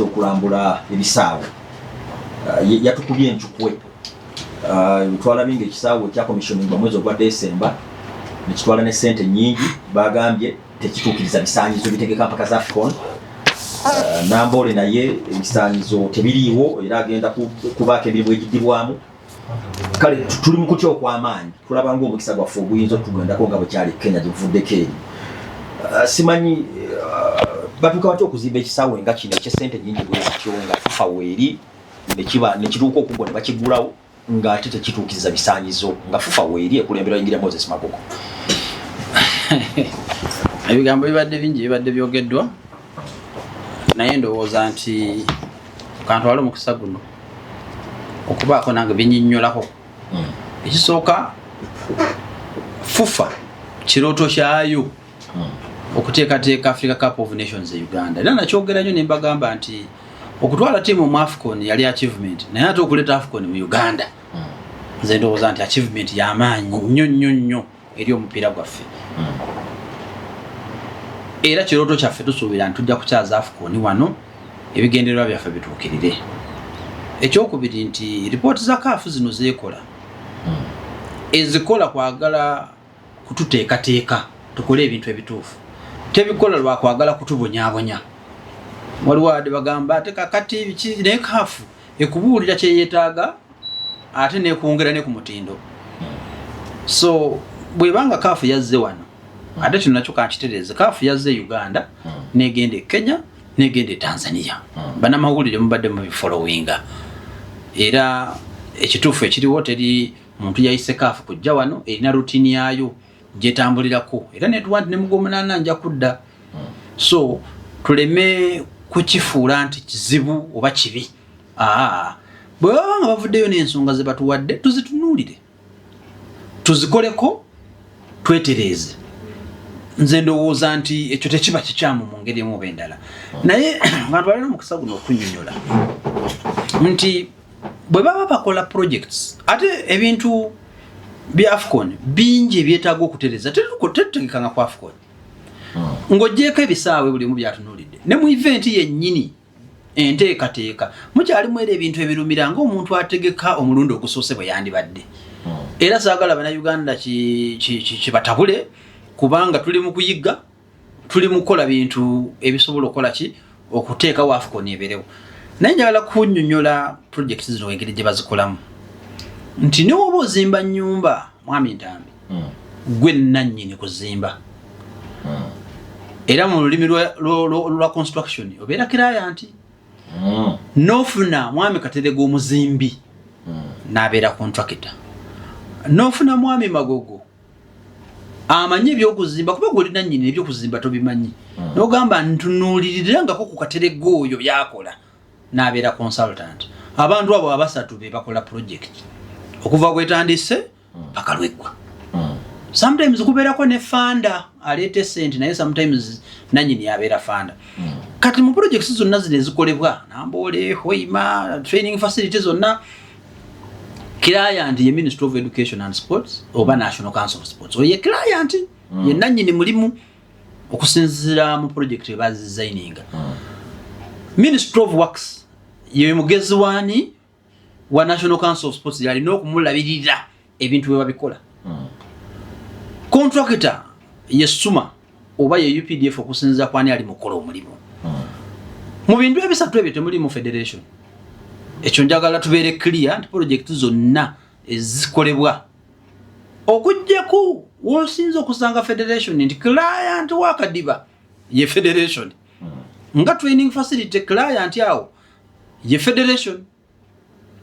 okulambula ebisaawe uh, yatukubye encukwe uh, twalabye nga ekisaawe kyakomissioningwa mwezi ogwa desemba nekitwala ne sente nyingi bagambye tekituukiriza bisaanyizo bitegeka mpaka za fcon uh, namboole naye ebisaanyizo tebiriiwo era agenda kubaako emirimu egidibwamu kale tuli mu kutya okw'amaanyi tulaba ng'omukisa gwaffe oguyinza okutugendako nga bwekyali kenya gyevuddeko eri uh, simanyi uh, batuuka batya okuzimba ekisaawe nga kino ekyesente nyingi bwezityo nga fifa weeri nekiba nekituuka okugwa ne bakigulawo ng'ate tekituukiriza bisaanyizo nga fifa weeri ekulembera yingira moses magogo ebigambo bibadde bingi bibadde byogeddwa naye ndowooza nti kantwala omukisa guno okubaako nange binyinyolako hmm. ekisooka fufa kirooto kyayo hmm. okuteekateeka africa cup of nations e uganda era nakyogera nyo nembagamba nti okutwala tiimu mu afcon yali achievement naye ate okuleeta afcon mu uganda hmm. nze ndowooza nti achievement yamaanyi nnyo nnyo nnyo eri omupiira gwaffe era kirooto kyaffe tusuubira nti tujja kukyaza afukooni wano ebigendererwa byaffe bituukirire ekyokubiri nti ripooti za kaafu zino zeekola ezikola kwagala kututeekateeka tukole ebintu ebituufu tebikola lwakwagala kutubonyabonya waliwo ade bagamba ate kakati biki naye kaafu ekubuulira kyeyetaaga ate nekwongera ne ku mutindo so bwebanga kaafu yazze wano hmm. ate kino nakyo kankitereeze kaafu yazze e uganda hmm. negenda e kenya negenda e tanzania hmm. banamawulire mubadde mubifolowinga era ekituufu ekiriwo teri muntu yayise kaafu kujja wano erina rutini yayo gyetambulirako era netuwa nti nemugomunana nja kudda so tuleme kukifuula nti kizibu oba kibi bwe baba nga bavuddeyo n'ensonga ze batuwadde tuzitunuulire tuzikoleko twetereeze nze ndowooza nti ekyo tekiba kikyamu mu ngeri emu oba endala naye abantu balina omukisa guno okunyonyola nti bwe baba bakola projects ate ebintu bya afcon bingi ebyetaaga okutereza tetutegekanga ku afcon hmm. ng'ogyeko ebisaawe buli omu byatunuulidde ne mu eventi yennyini enteekateeka mukyalimu era ebintu ebirumira ng'omuntu ategeka omulundi ogusoose bwe yandibadde hmm. era saagala bannayuganda kibatabule kubanga tuli mu kuyigga tuli mu kukola bintu ebisobola okukola ki okuteekawo afcon eberewo naye njagala kunyonyola projekiti zino engeri gye bazikolamu nti newoba ozimba nyumba mwami ntambi hmm. gwe nannyini kuzimba hmm. era mu lulimi lwa construction obeera kiraya nti hmm. nofuna mwami katerega omuzimbi nabeera contractor nofuna mwami magogo amanyi ebyokuzimba kuba gwe olinannyini ebyokuzimba tobimanyi nogamba ntunuulirirangako ku katerega oyo byakola nabeera consultant abantu abo abasatu bebakola project okuva kwetandise bakalweggwa sometimes kubeerako ne fanda aleeta esente naye sometimes nanyini abeera fanda hmm. kati mu projects zonna zino ezikolebwa namboole hoima training facility zonna client ye ministry of education and sports oba hmm. national council of sports oye client hmm. ye nanyini mulimu okusinzira mu project ebazizayininga ministry of works ye mugezi waani wa national council of sports yalina okumulabirira ebintu bwe babikola hmm. contractor yesuma oba ye updf okusinziza kwani ali mukola omulimu hmm. mu bintu ebisatu ebyo temuli mu federation ekyo njagala tubeere clear nti project zonna ezikolebwa okujjaku wosinza okusanga federation nti client wakadiba ye federation hmm. nga training facility client awo ye federation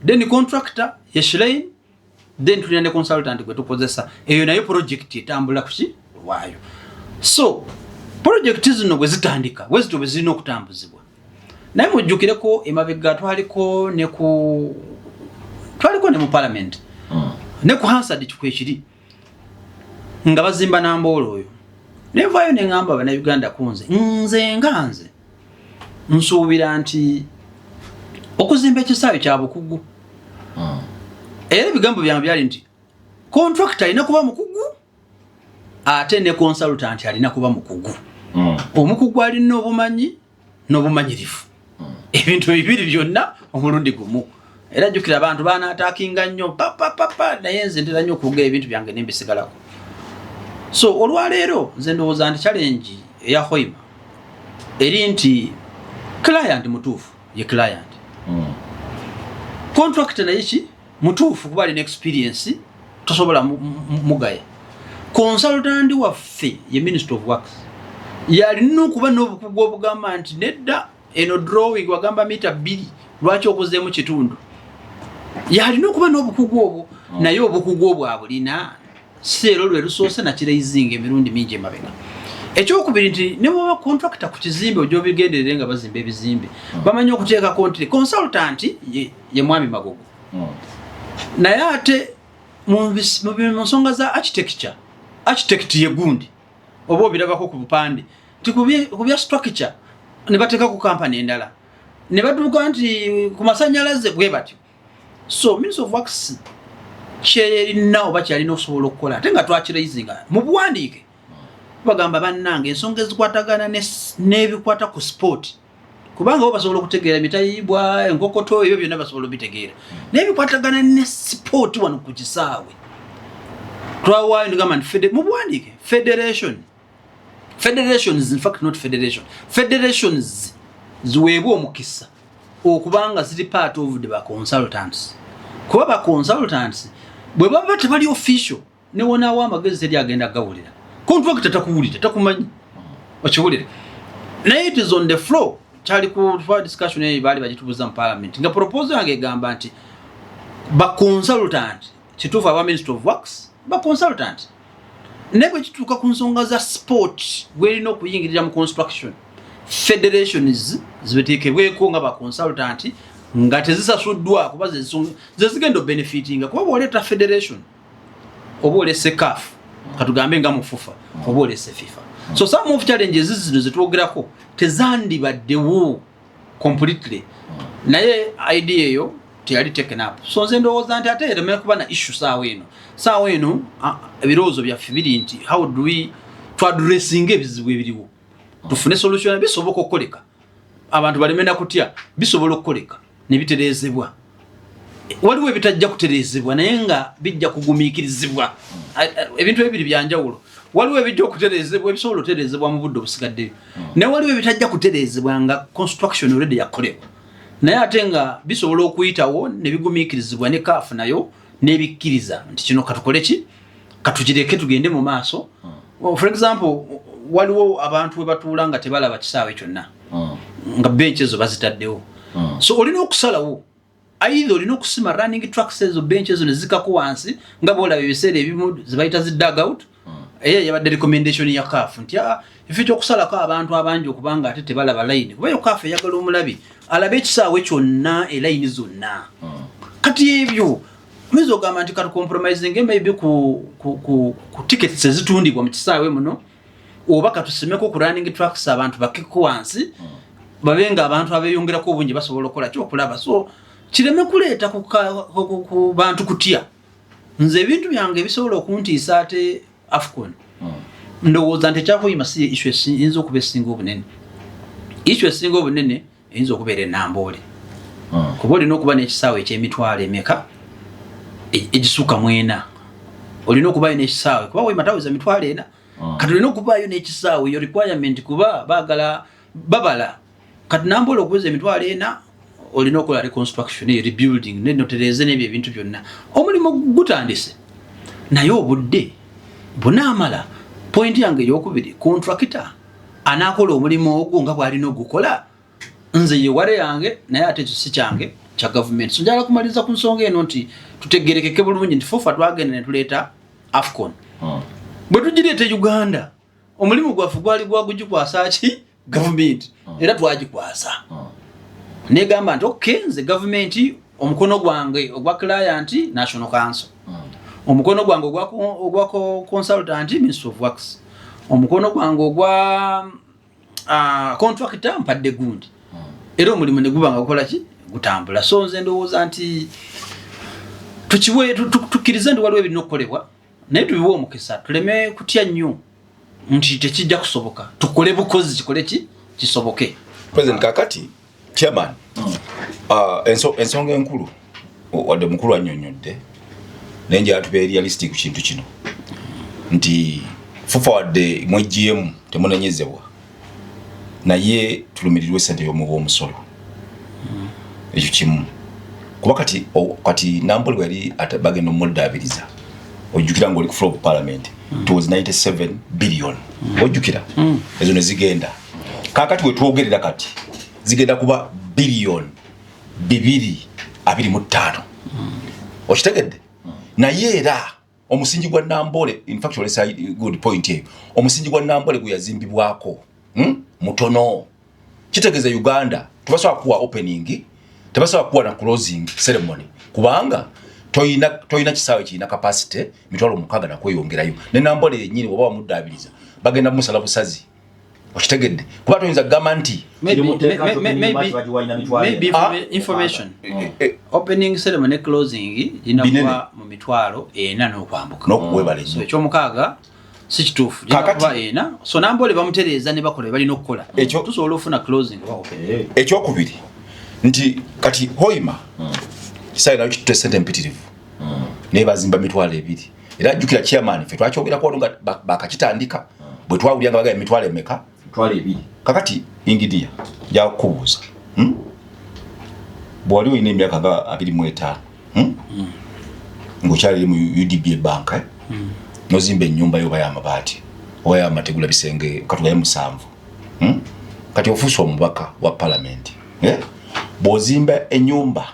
then contractor ye shlein then tulina ne consultant gwe tukozesa eyo nayo project etambula kuki lwayo so project zino bwe zitandika bwezito bwe zirina okutambuzibwa naye mujjukireko emabega twaliko ne ku twaliko ne mu parliament hmm. ne ku hansard kikwekiri nga bazimba namboolo oyo nenvayo neŋamba banauganda kunze nze nga nze nsuubira nti okuzimba ekisaawe kya bukugu hmm. era ebigambo byange byali nti kontrakita alina kuba mukugu ate ne konsaltanti alina kuba mukugu hmm. omukugu alina obumanyi n'obumanyirivu hmm. ebintu bibiri byonna omulundi gumu era jjukira abantu baanaataakinga nnyo papapapa naye nze ntera nnyo okuga ebintu byange nembisigalako so olwaleero nze ndowooza nti challenge eya hoima eri nti client mutuufu ye client hmm. contract naye ki mutuufu kuba alina experience tosobola mugaya consultant waffe ye minister of works yalina okuba n'obukugu obugamba nti nedda eno drawing wagamba mita bbiri lwaki okozeemu kitundu yalina okuba n'obukugu obwo mm. naye obukugu obwo abulina si ero lwe lusoose nakireizinga emirundi mingi emabega ekyokubiri nti newaba contracta ku kizimbe ojobigenderere nga bazimba ebizimbe mm. bamanyi okuteekako nti consultant ye mwami magogo mm. naye ate mu nsonga za architecture architect ye gundi oba obirabako ku bupande nti ku bya structure ne bateekako kampani endala ne batuuka nti ku masannyalaze bwe batyo so ministry of works kyerina oba kyalina okusobola okukola ate nga twakiraizinga mu buwandiike bagamba bannanga ensonga ezikwatagana n'ebikwata ku sipooti ne kubanga bo basobola okutegeera emitayibwa enkokoto ebyo byonna basobola obitegeera naye bikwatagana ne sipooti wano ku kisaawe twawaayo nigamba nti mubuwandiike federation federations infact not federation federations ziweebwa omukisa okubanga ziri part of the baconsultants kuba baconsultants bwe baba tebali official ne wonaawo amagezi teri agenda gawulira kontrakita takuwulira takumanyi okiwulire naye it is on the floor kyali ku discussion eyo baali bagitubuza mu parliament nga proposal yange egamba nti ba consultant kituufu aba minister of works ba consultant naye bwe kituuka ku nsonga za sport gwerina okuyingirira mu construction federations zibetekebweko nga ba consultant nga tezisasuddwa kuba zezigenda obenefitinga kuba bwoleeta federation oba olese kaf katugambe nga mufufa oba olese fifa so some of challenges zino zetwogerako tezandibaddewo completely naye idea eyo teyali taken up so nze ndowooza nti ate eremera kuba na issue saawa eno saawa eno ebirowoozo byaffe biri nti how do we twadressinga ebizibu ebiriwo tufune solution bisoboka okukoleka abantu baleme nakutya bisobola okukoleka ne bitereezebwa waliwo ebitajja kutereezebwa naye nga bijja kugumiikirizibwa ebintu ebiri byanjawulo waliwo ebijja okutereezebwa ebisobola otereezebwa mu budde obusigaddeyo hmm. naye waliwo ebitajja kutereezebwa nga construction olredi yakolebwa naye ate nga bisobola okuyitawo ne bigumiikirizibwa ne kaafu nayo nebikkiriza nti kino katukole ki katugireke tugende mu maaso hmm. for example waliwo abantu webatuula nga tebalaba kisaawe kyonna hmm. nga bench ezo bazitaddewo hmm. so olina okusalawo aidha olina okusima running trucks ezo bench ezo nezikako wansi nga bolaba ebiseera ebimu zebayita zi dagout mm. eyo yabadde recommendation ya CAF nti ah, efe kyokusalako abantu abangi okubanga ate tebalaba layini kuba yo CAF eyagala omulabi alabe ekisaawe kyonna elayini zonna hmm. kati ebyo oyinza ogamba nti katucompromising maybe ku, ku, ku, ku tickets ezitundibwa mu kisaawe muno oba katusimeko ku running tracks abantu bakeko wansi hmm. babe nga abantu abeyongerako obungi basobola okukola kyokulaba so kireme kuleeta ku bantu kutya nze ebintu byange ebisobola okuntiisa ate afcon hmm. ndowooza nti ekyakuyima si isu eyinza okuba esinga obunene isu esinga obunene eyinza okubeera enamboole hmm. kuba olina okuba n'ekisaawe ekyemitwalo emeka e, egisuka mwena olina okubayo n'ekisaawe kuba wemataweza mitwalo ena hmm. kati olina okubaayo n'ekisaawe yo requirement kuba bagala babala kati nambola okuweza emitwalo ena olina okola reconstruction e rebuilding nenotereze nebyo ebintu byonna omulimu gutandise naye obudde bunaamala pointi yange eyokubiri kontrakita anaakola omulimu ogwo nga bwalina ogukola nze yeware yange naye ate ekyo si kyange kya gavumenti so njagala kumaliriza ku nsonga eno nti tutegerekeke bulungi nti fufa twagenda ne tuleeta afcon hmm. bwe tugireeta e uganda omulimu gwaffe gwali gwagugikwasa ki gavumenti mm. era twagikwasa mm. negamba nti ok nze gavumenti omukono gwange ogwa client national council mm. omukono gwange ogwa consultant ministry of works omukono gwange ogwa ah, contractor mpadde gundi era omulimu neguba nga gukolaki gutambula so nze ndowooza nti tukiwe tukkirize nti waliwo ebirina okukolebwa naye tubiwe omukisa tuleme kutya nnyo nti tekijja kusoboka tukole bukozi kikole ki kisoboke president kakati chairman mm. uh, enso, ensonga enkulu wadde mukulu annyonnyodde naye nja atuba realistic ku kintu kino nti fufa wadde mwegiyemu temunenyezebwa naye tulumirirwa esente yomuwa omusolo hmm. ekyo kimu kuba kati kati nambuli wali bagenda omudaabiriza ojjukira ngaoli ku floor of parliament hmm. towards 97 billion hmm. ojjukira ezo nezigenda kakati wetwogerera kati zigenda kuba billion bibiri abiri mu ttaano okitegedde naye era omusingi gwa nambole in fact olesa good point eyo omusingi gwa nambole guyazimbibwako hmm? mutono kitegeza uganda tubasobola kuwa opening tebasobola kuwa na closing ceremony kubanga toyina toyina kisaawe kirina capacity mitwalo mukaga nakweyongerayo ne nambole yenyini oba wamuddaabiriza bagenda musala busazi okitegedde kuba toyinza kugamba nti ekyomukaaga si kituufu ena so nambaole bamutereeza ne bakola balina okukola tusobola ofuna eh. ekyokubiri nti kati hoima hmm. saira kitute sente mpitirivu hmm. naye bazimba mitwalo ebiri era jjukira chairman ffe twakyogerako wano nga bakakitandika hmm. bwe twawulira nga bagala emitwalo emeka kakati ingidiya jakubuuza hmm? bwewali olina emyaka nga abiri mu etaano hmm? ngaokyaliri mu udb ebanka eh? nozimba enyumba yo obayo amabaati obayo amategula bisenge katugaye musanvu kati ofuusa omubaka wa palamenti eh? bwozimba enyumba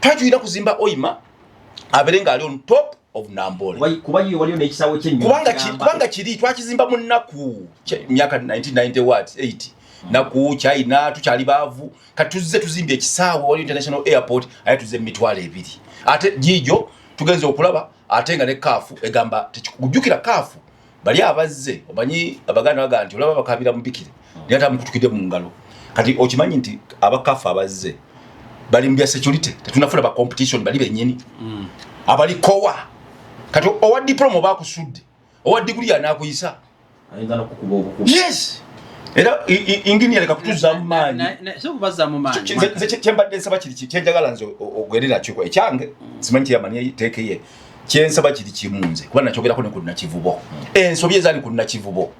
tajuyina kuzimba oyima abere nga ali on top of nambole kubanga kiri twakizimba mu nnaku myaka 1990 wat 8 naku china tukyali baavu katuzze tuzimbye ekisaawe wali international airport aye tuzze mumitwalo ebiri ate jijo tugenze okulaba ate nga ne kaafu egamba tekikujukira kaafu bali abazze omanyi abaganda baga nti olaba bakabira mubikire naye ate amukutukidde mu ngalo kati okimanyi nti abakafa abazze bali mu bya security tetunafuna ba competition bali bennyini mm. abali kowa kati owa diploma oba akusudde owa diguli yanakuyisa yes era ingini yaleka kutuzaamu maanyi kyembadde nsaba kiri kyenjagala nze ogwere nakyo ekyange mm. simanyi kyeyamanyi teekeye kyensaba kiri kimu nze kuba nakyogerako ne ku nakivubo ensobi ezaali ku nakivubo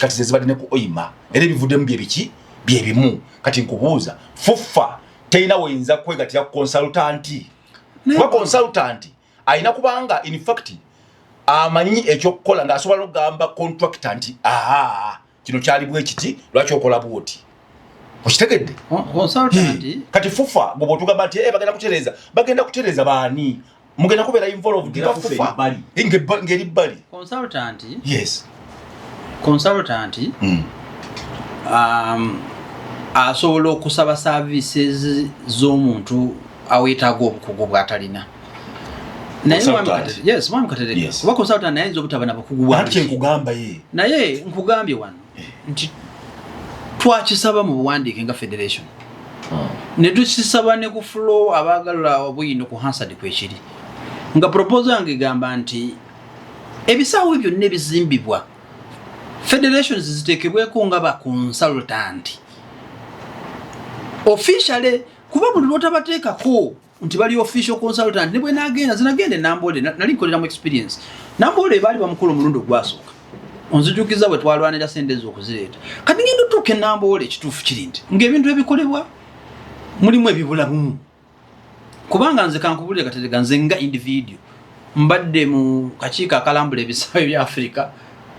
kati zezibadde ne ku oima era ebivuddemu byebiki byebimu kati nkubuuza fuffa terina weyinza kwegatira ku konsultanti kuba konsultanti alina kubanga infact amanyi ekyokukola ngaasobola nokugamba contracta nti aa kino kyali bwekiti lwaki okola bwoti okitegedde kati fufa gwe bwotugamba nti eh, bagenda kutereza bagenda kutereza baani mugenda kubeera involved nga fufa ngeri bbali consultanti hmm. um, asobola okusaba services z'omuntu awetaaga obukugu bwatalina naye nkugambye wano eh. nti twakisaba mu buwandiike nga federation hmm. ne tukisaba ne ku flo abaagala obuyino ku hansard kwekiri nga proposal yange egamba nti ebisaawo byonna ebizimbibwa federations ziteekebweko nga ba consultant officially kuba buli lwotabateekako nti bali official consultant ne bwe nagenda zinagenda enamboole nali nkolera mu experience namboole baali bamukulu omulundi ogwasooka onzijukiza bwe twalwanira sente ezo okuzireeta kati ngenda otuuka enamboole ekituufu kiri nti ng'ebintu ebikolebwa mulimu ebibula bumu kubanga nze kankubulire katerega nze nga individio mbadde mu kakiiko akalambula ebisaawe bya afirika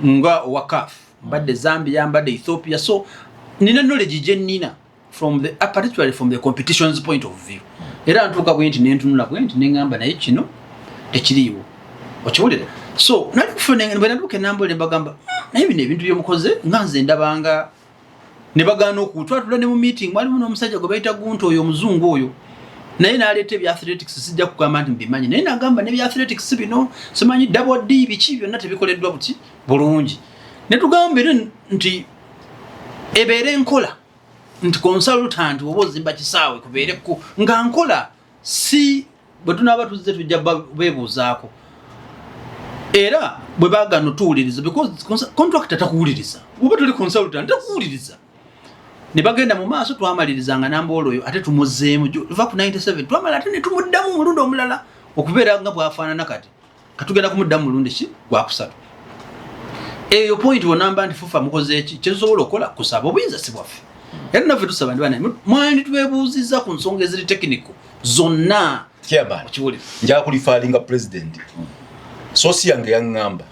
nga owakaf mbadde zambia mbadde ethiopia so nina knowledge gye nnina from the uh, particularly from the competition's point of view era ntuuka bwenti nentunula bwenti neŋamba naye kino tekiriiwo okiwulira so nalikufunaduuka enambula nembagamba hmm, naye bino ebintu byemukoze nga nze ndabanga ne bagaana okutwatula ne mu meeting mwalimu n'omusajja gwe bayita gunta oyo omuzungu oyo naye naleeta ebya athletics sijja kugamba nti mbimanyi naye nagamba nebya athletics bino simanyi dabod biki byonna tebikoleddwa buti bulungi netugamba era nti ebeere nkola nti konsalutanti oba ozimba kisaawe kubeere ku nga nkola si bwe tunaaba tuzze tujja beebuuzaako era bwe bagana otuwuliriza becontracta takuwuliriza oba tuli konsalutanti takuwuliriza ne bagenda mu maaso twamaliriza nga nambaolo oyo ate tumuzeemu va ku 97 twamala ate ne tumuddamu omulundi omulala okubeera nga bwafaanana kati katugenda kumuddamu mulundi ki gwakusatu eyo point wonamba nti fufa mukoze eki kyetusobola okukola kusaba obuyinza si bwaffe era naffe tusaba ndi banaye mwandi twebuuzizza ku nsonga eziri tekiniko zonna njakulifalinga president sosi yange yaŋŋamba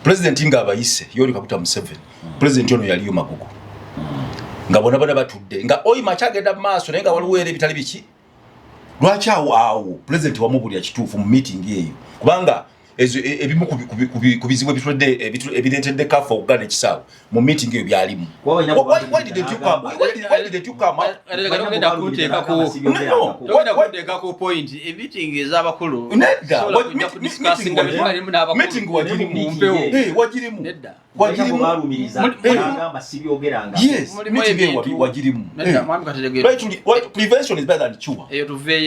president nga abayise yoli kakuta museven president ono yaliyo magugu nga bona bona batudde nga oyi makyagenda mu maaso naye nga waliwo era ebitali biki lwaki awo awo pulezidenti wamubulira kituufu mu meeting eyo kubanga e, ebimu ku bizibu ebireetedde kafa okugana ekisaawe mu meeting eyo byalimu wagirimu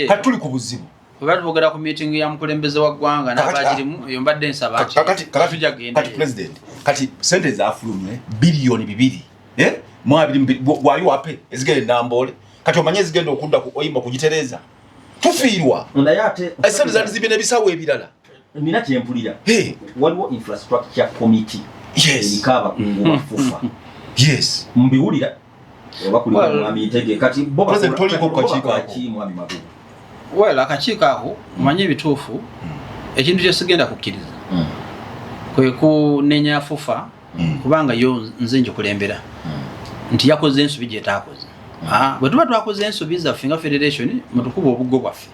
katuli ku buzibu oba tubogera ku meeting ya mukulembeze wa ggwanga nabagirimu eyo mbadde nsaba kati sente zafulumye biliyoni bibiri eh? mwabiri wali wape ezigenda enamboole kati omanye ezigenda okudda ku oyimba kugitereeza tufiirwa esente zandi zibina ebisawo ebirala nina kyempulira waliwo infrastructure committee eriko abakungu ba fufa mbiwulira well akakiiko ako manye ebituufu hmm. ekintu kyesigenda kukkiriza hmm. kwe kunenya fufa hmm. kubanga yo nze njikulembera nti yakoze ensobi gyetaakoze ah, bwe tuba twakoze ensobi zaffe nga federation mutukuba obuggo bwaffe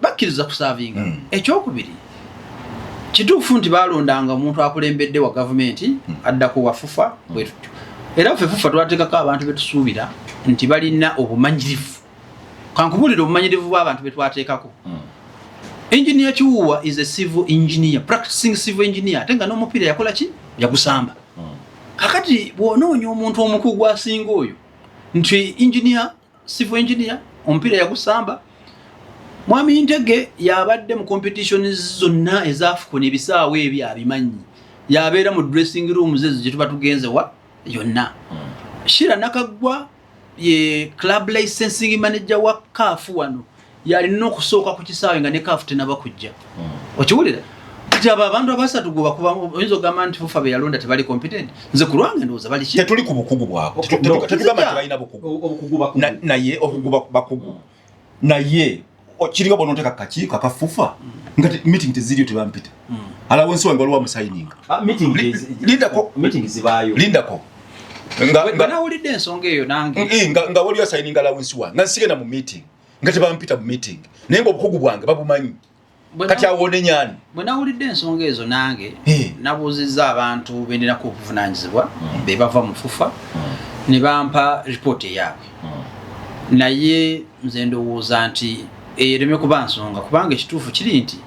bakkiriza kusaavinga hmm. ekyokubiri kituufu nti balondanga omuntu akulembedde wa gavumenti hmm. addako wafufa hmm. bwetutyo era ffe fufa twateekako abantu betusuubira nti balina obumanyirivu kankubulira obumanyirivu bwabantu betwateekako enginia kiwuwa is a civil engineer practicing civil engineer ate nga n'omupiira yakola ki yagusamba kakati bwonoonya omuntu omukugu asinga oyo nti enginia civil engineer omupiira yagusamba mwami ntege yabadde mu competition zonna ezafukuna ebisaawo ebyo abimanyi yabeera mu dressing rooms ezo gyetuba tugenze wa yonna hmm. shira nakaggwa ye club licensing manager wa kaafu wano yalina okusooka ku kisaawe nga ne kaafu tenaba kujja hmm. okiwulira kati abo abantu abasatu gwebakuba oyinza ogamba nti fufa beyalonda tebali competent nze ku lwange ndowooza bali tetuli ku bukugu bwabo tetugamba nti balina bukugunaye obukugu bakugu naye kiriwo bononteka kaki kakafufa nga meeting teziriyo tebampita hmm. alawo ensi wange waliwo amusayininga ah, lindako nga waliwo asayininga alawo ensi wange nga nsigenda mu meeting nga tebampita mu meeting naye nga obukugu bwange babumanyi kati awonenyani bwe nawulidde ensonga ezo nange nabuuzizza abantu bendirako obuvunanyizibwa hmm. be bava mu fufa hmm. ne bampa ripooti eyaabwe hmm. naye nze ndowooza nti eyereme kuba nsonga kubanga ekituufu kiri nti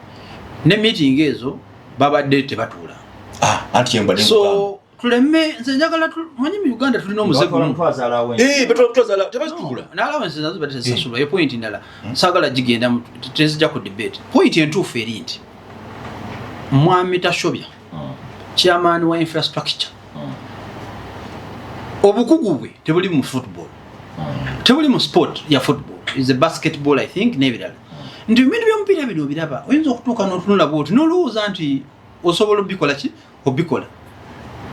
ne meeting ezo babadde tebatuula ah, so tuleme nze njagala manyi mu uganda tulina omuzegunaalawensezazibatesasulwayo eh. pointi ndala hmm. sagala gigenda tezija ku debate pointi entuufu eri nti mwami tashobya hmm. chairman wa infrastructure hmm. obukugu bwe tebuli mu football tebuli mu sport ya football is a basketball i think nebirala nti ebintu byomupiira bino obiraba oyinza okutuuka notunula bwoti nolowooza nti osobola obikola ki obikola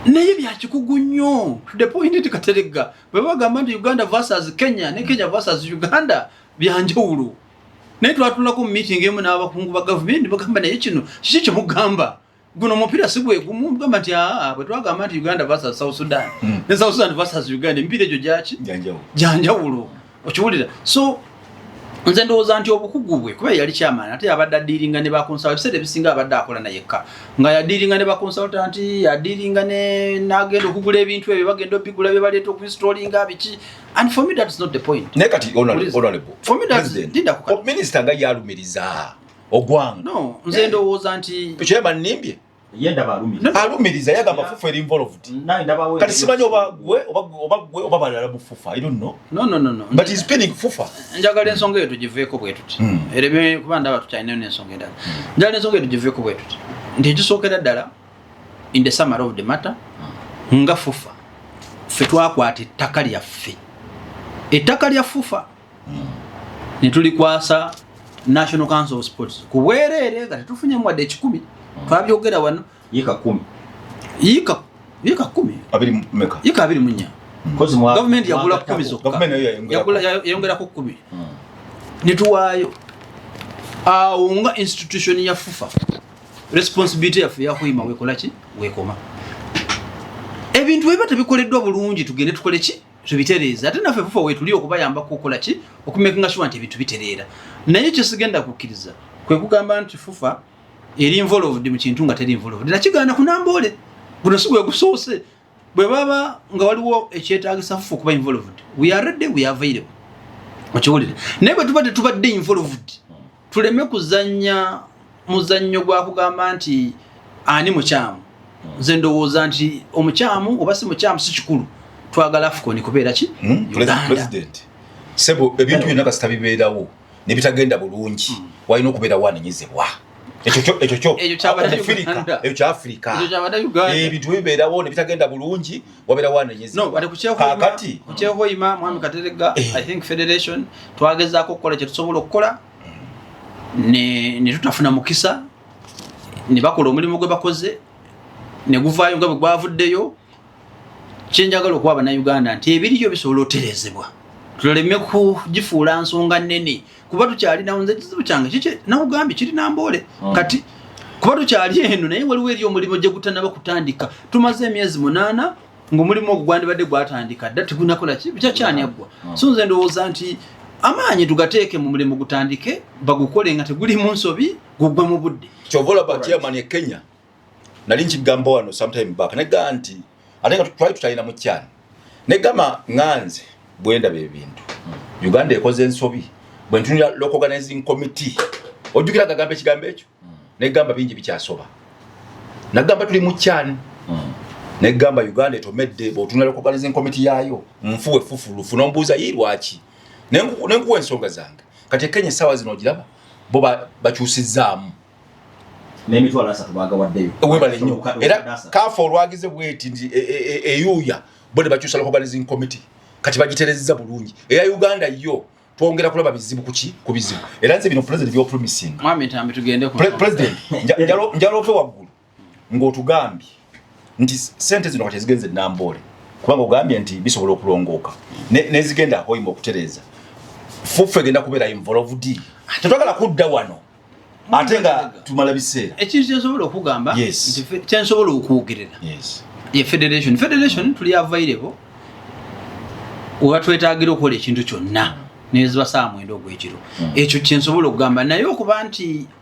naye byakikugu nnyo to the point nti kateregga bwe bagamba nti uganda versus kenya ne kenya versus uganda byanjawulo naye twatulako mu meeting emu n'abakungu ba gavumenti bagamba naye kino kiki kyemugamba guno omupiira si gwegumu mugamba nti aa bwe twagamba nti uganda versus south sudan hmm. ne south sudan versus uganda emipiira egyo gyaki gyanjawulo okiwulira so nze ndowooza nti obukugu bwe kuba yali kyamaani ate yabadde adiiringa ne bakonsala ebiseera ebisinga abadde akola nayekka nga yadiiringa ne bakonsaltanti yadiiringa nagenda okugula ebintu ebyo bagenda obigula bye baleeta okuinstolinga biki and for me that's not the point naye kati honorableminisita oh, nga yalumiriza ogwange no nze ndowooza nti kyemanimbye alumiriza yagamba fufu eri involved kati simanyi oba gwe oba gwe oba balala mu fufa i don't know no no no no but he's pinning fufa njagala ensonga eyo tugiveeko bwe tuti hmm. erebe kuba ndaba tukyalinayo n'ensonga endala hmm. njagala ensonga eyo tugiveeko bwe tuti nti ekisookera ddala in the summer of the matter hmm. nga fufa ffe twakwata ettaka lyaffe ettaka lya fufa ne tulikwasa national council of sports ku bwereere nga tetufunyemu wadde ekikumi hmm. twabyogera wano yika kumi yika yika kumi abiri meka yika abiri munya hmm. kozi mwa government yagula kumi zokka government yagula yayongera ku kumi hmm. ne tuwayo awo nga institution ya fufa responsibility yaffe yakuyima wekola ki wekoma ebintu bwe biba tebikoleddwa bulungi tugende tukole ki tubitereeza ate naffe fufa wetuli okubayambako okukola ki okumekinga shuwa nti ebintu bitereera naye kyesigenda kukkiriza kwe kugamba nti fufa eri involved mu kintu nga teri involved nakigaana kunamboole guno si gwegusoose bwe baba nga waliwo ekyetagisa fufa okuba involved we are ready we are available okiwulire naye bwe tuba tetubadde involved tuleme kuzannya muzannyo gwa kugamba nti ani mukyamu nze ndowooza nti omukyamu oba si mukyamu si kikulu twagala afukoni kubeera ki hmm? president sebo ebintu byonna kasita bibeerawo ne bitagenda bulungi hmm. walina okubeera wanenyezebwa ekyo kyafirika ebintu bibeerawo ne bitagenda bulungi wabera wano nyezi no bali kucheo kwa kati kucheo kwa ima mwami katerega eh. i think federation twageza ko kola chetu sobulo kola ne ne tutafuna mukisa ne bakola omulimu gwe bakoze ne guvayo ngabwe gwavuddeyo kyenjagala okuwa bannayuganda nti ebiriyo bisobola oterezebwa tuleme kugifuula nsonga nnene kuba tukyalinawo nze kizibu kyange kiki nakugambye kiri namboole hmm. kati kuba tukyali eno naye waliwo eri omulimu gye gutanaba kutandika tumaze emyezi munaana ngaomulimu ogwo gwandibadde gwatandika dda tigunakola kyakyaniaggwa hmm. so nze ndowooza nti amaanyi tugateeke mu mulimu gutandike bagukole nga teguli mu nsobi gugwe mu budde kyovola ba chairman e kenya nali nkigamba wano sometime back negamba nti ate nga twali tutalina mu kyana negamba nganze bwendaba ebintu uganda ekoze ensobi bwentunira local organizing committee ojjukira gagamba ekigambo ekyo mm. negamba bingi bikyasoba nagamba tuli mu kyana mm. negamba uganda etomedde bwotunira local organizing committee yaayo nfu wefufulu funa ombuuza yi lwaki nenkuwa ensonga zange kati ekenya esaawa zino ogiraba bo bakyusizaamu ba n'emitwalo asatu baagawaddeyo webale nnyo era kaafa olwagize bweti nti e, e, e, eyuuya bo ne bakyusa lokobanizing committee kati bagiterezza bulungi eya uganda yo twongera kulaba bizibu kuki ku bizibu era nze bino president byopromising president njalope waggulu ng'otugambye nti sente zino kati ezigenze e namboole kubanga ogambye nti bisobola okulongooka nezigenda hoima okutereeza fuffe egenda kubeera involved tetwagala kudda wano ate nga tumala biseera ekintu kyensobola okugamba kyensobola okwogerera ye federation federation tuli available webatwetagira okukola ekintu kyonna nezibasaamu enda ogwekiro hmm. ekyo kyensobola okugamba naye okuba nti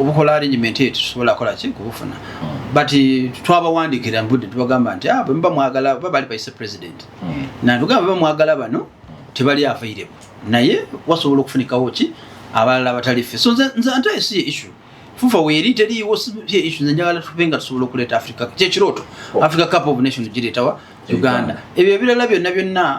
obukola arrangement eyo tusobola kola ki kubufuna hmm. but eh, twabawandikira mbudde tubagamba nti ah, bwemuba mwagala ba bali baise president hmm. natugamba beba mwagala bano hmm. tebali avairebo naye wasobola okufunikawo ki abalala abatali ffe so nze ante esi ye issue fufa weeri teriiwo ye issue nze njagala tube nga tusobola okuleeta africa kyekirooto oh. africa cup of nation gireetawa uganda ebyo ebirala byonna byonna